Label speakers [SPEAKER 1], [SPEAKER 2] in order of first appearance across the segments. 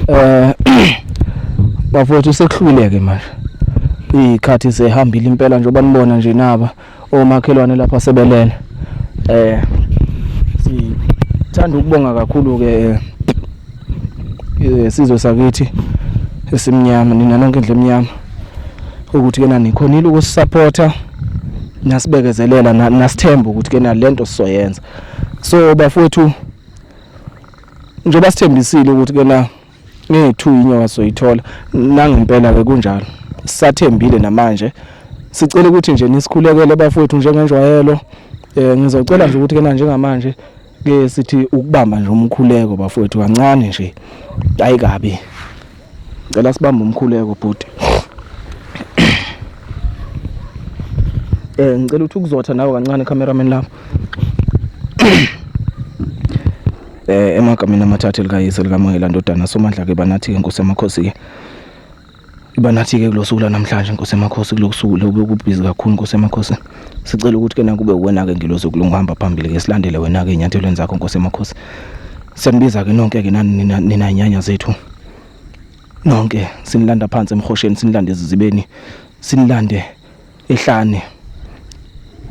[SPEAKER 1] eh bafowethu sekuhluleke manje ikhathi sehambile impela njengoba nibona nje naba omakhelwane lapha sebelele eh sithanda ukubonga kakhulu ke eh, eh, sizwe sakithi esimnyama nina nonke indle emnyama ukuthi kena nikhonile ukusupporta nasibekezelela nasithemba ukuthi kena lento sizoyenza so bafowethu njengoba sithembisile ukuthi ke na ngethu inyoka soyithola nangempela ke kunjalo sisathembile namanje sicela ukuthi nje nisikhulekele bafowethu njengenjwayelo eh ngizocela nje ukuthi ke na njengamanje ke sithi ukubamba nje umkhuleko bafowethu kancane nje ayikabi Ngicela sibambe umkhuleko bhuti. Eh ngicela ukuthi ukuzotha nawe kancane cameraman lapho. Eh emagameni amathathu likayise likaMoyela ndodana somandla ke banathi ke Nkosi yamakhosi ke. Banathi ke kulosuku lanamhlanje Nkosi yamakhosi kulokusuku lobe kubhizi kakhulu Nkosi yamakhosi. Sicela ukuthi ke nakube wena ke ngilozo kulungihamba phambili ke silandele wena ke inyathelweni zakho Nkosi yamakhosi. Siyanibiza ke nonke ke nani nina nyanya zethu. nonke sinilanda phansi emhosheni sinilande ezizibeni sinilande ehlane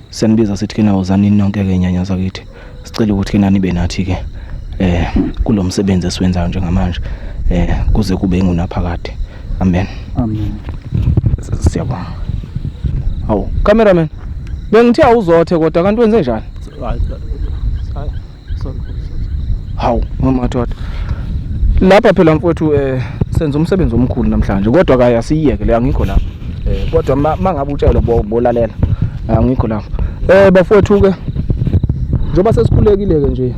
[SPEAKER 1] senibiza sithi kena uzani nonke ke nyanya zakithi sicela ukuthi kena nibe nathi ke eh kulomsebenzi esiwenzayo njengamanje eh kuze kube ingunaphakade amen amen siyabonga awu cameraman bengithe awuzothe kodwa kanti wenze njani hawu mamathwada lapha phela mfowethu um eh, senza umsebenzi omkhulu namhlanje kodwa kaye asiyiyeke le angikho lapha um eh, kodwa ma ngabe utshelwe bolalela angikho lapha um bafowethu-ke njengoba sesikhulekile-ke nje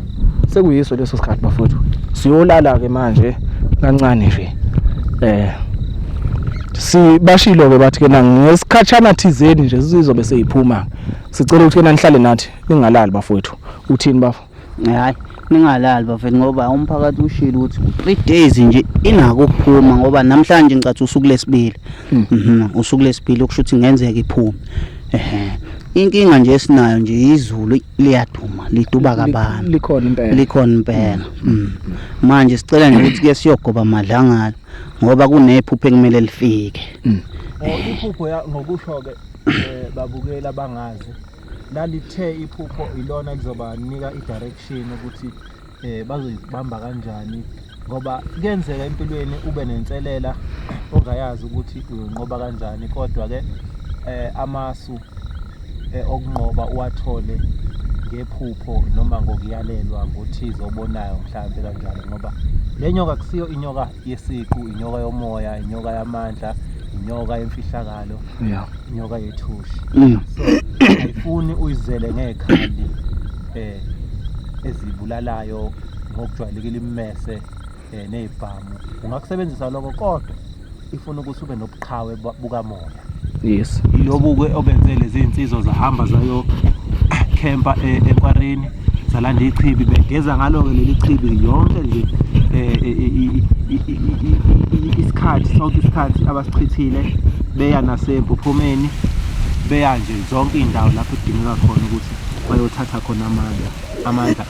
[SPEAKER 1] sekuyiso leso sikhathi bafowethu siyolala-ke manje kancane nje um sibashilo-ke bathi-ke na ngesikhatshana thizeni nje sizobe seyiphuma sicela ukuthi-ke nanihlale nathi ningalali bafowethu uthini bafo hayi
[SPEAKER 2] ningalali bafethu ngoba umphakathi ushilo ukuthi three days nje inako ukuphuma ngoba namhlanje ngicathi usuku lesibili hmm. mhm, usuku lesibili okusho ukuthi ngenzeka iphume ehe inkinga nje esinayo nje izulu liyaduma liduba kabani likhona impela likhona impela hmm. Hmm. manje sicela nje ukuthi ke siyogoba madlangala ngoba kunephupho ekumele lifike
[SPEAKER 3] iphupho ngokusho ke eh, babukela bangazi lalithe iphupho ilona elizobanika i-direction ukuthi eh bazoyibamba kanjani ngoba kuyenzeka empilweni ube nenselela ongayazi ukuthi uyonqoba kanjani kodwa ke eh amasu eh, okunqoba uwathole ngephupho noma ngokuyalelwa ngothize obonayo mhlawumbe kanjalo ngoba le nyoka kusiyo inyoka yesiqu inyoka yomoya inyoka yamandla inyoka yemfihlakalo yeah. inyoka yethushi mm. so ayifuni uyizele ngekhali eh ezibulalayo ngokujwayelekile imese eh nezibhamu ungakusebenzisa lokho kodwa ifuna ukuthi ube nobuqhawe bukamoya yes
[SPEAKER 1] iyobuke obenze
[SPEAKER 3] lezi insizwa zahamba zayo camper eh, ekwareni salanda ichibi begeza ngalo-ke leli chibi yonke nje um isikhathi sonke isikhathi abasichithile beya nasempuphumeni beya nje zonke iy'ndawo lapho kudingeka khona ukuthi bayothatha khona amandla amandla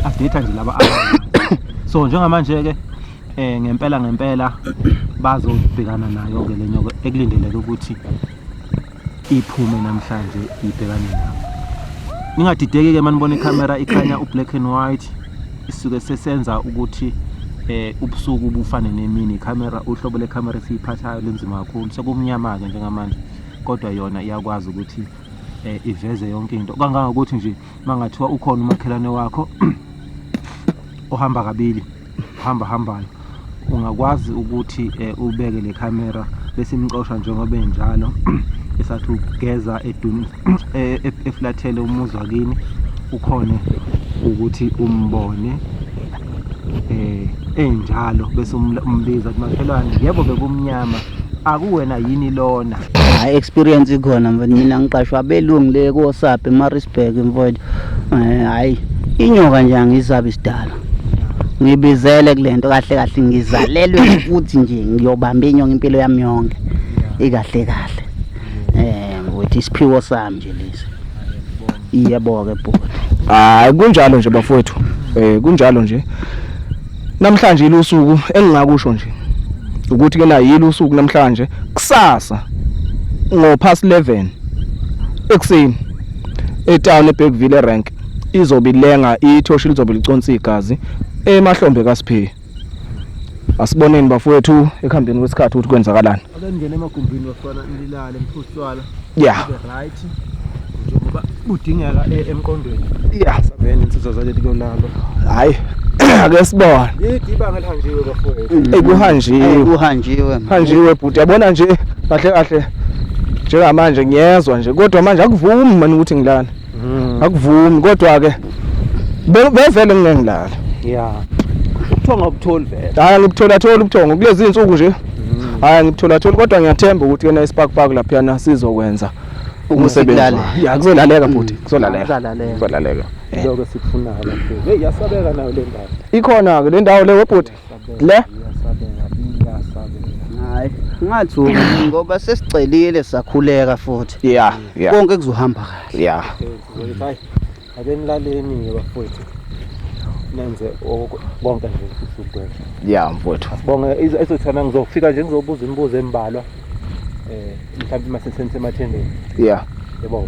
[SPEAKER 3] adetha nje laba so njengamanje-ke Eh ngempela ngempela bazobhekana nayo ke lenyo ekulindeleke ukuthi iphume namhlanje ibhekane nayo. Ningadideki ke manibona ikamera ikhanya ublack and white isuke sesenza ukuthi eh ubusuku bufane nemini camera uhlobo le camera esiyiphathayo linzima kakhulu sekumnyama ke njengamanje kodwa yona iyakwazi ukuthi eh, iveze yonke into kangangokuthi nje mangathiwa ukhona umakhelwane wakho ohamba kabili hamba hambayo ungakwazi ukuthi eh, ubeke le camera bese imxosha njengoba enjalo esathi ugeza edum eh, e- eflathele umuzi wakini ukhone ukuthi umbone eh enjalo bese umbiza ukuthi makhelwane yebo bekumnyama akuwena yini lona hayi experience
[SPEAKER 2] ikhona mfowethu mina ngiqashwa abelungu le kosabe emarisburg mfowethu eh, hayi inyoka nje angisabi isidala ngibizele kule nto kahle kahle ngizalelwe ukuthi nje ngiyobamba inyonga impilo yami yonke ikahle kahle um ukuthi isiphiwo sami nje lesi
[SPEAKER 1] Iyebo-ke
[SPEAKER 2] bhuti.
[SPEAKER 1] Hayi kunjalo nje bafowethu. Eh kunjalo nje. Namhlanje ilusuku engingakusho nje. Ukuthi ke na yilo usuku namhlanje kusasa ngo past 11 ekuseni etown eBergville rank izobe ilenga ithoshi lizobe liconsa igazi emahlombe kaSiphiwe. Asiboneni bafowethu ekuhambeni kwesikhathi ukuthi kwenzakalani. Ake ningene emagumbini
[SPEAKER 3] bafana nilale mphuswala. Yeah. Right. Njengoba budingeka e- emqondweni. Yeah. Sabene
[SPEAKER 1] insizwa zaleli
[SPEAKER 3] konalo. Hayi.
[SPEAKER 1] Ake sibone. Yidi ibanga elihanjiwe
[SPEAKER 3] bafowethu. Ey kuhanjiwe. Kuhanjiwe.
[SPEAKER 1] Hanjiwe bhuti yabona nje kahle kahle njengamanje ngiyezwa nje kodwa manje akuvumi mani ukuthi ngilana. Mm. Akuvumi kodwa ke bevele ngingengilala. Yeah. Ubuthongo
[SPEAKER 3] ubutholi vele. Hayi ngibuthola thola
[SPEAKER 1] ubuthongo kulezi insuku nje. Mm. Hayi ngibuthola thola kodwa ngiyathemba ukuthi kena ispark park lapha yana sizokwenza umsebenzi. Yeah kuzolaleka futhi mm. kuzolaleka. Kuzolaleka. Lokho
[SPEAKER 3] sikufunayo. Hey yasabeka nayo le ndawo. Ikhona ke le ndawo
[SPEAKER 1] le webhuti. Le?
[SPEAKER 3] Hayi,
[SPEAKER 2] ngathi u- ngoba sesicelile sakhuleka futhi. Yeah, yeah. Konke
[SPEAKER 1] kuzohamba
[SPEAKER 2] kahle. Yeah.
[SPEAKER 3] Hayi, ake nilaleni-ke bafowethu nenze oku- konke nje futhi ukugwema Yeah, mfowethu.
[SPEAKER 1] bonge izo- ezothana
[SPEAKER 3] ngizofika nje ngizobuza imibuzo embalwa um mhlawumbe
[SPEAKER 1] uma
[SPEAKER 3] sesenisemathendeni Yeah. yebo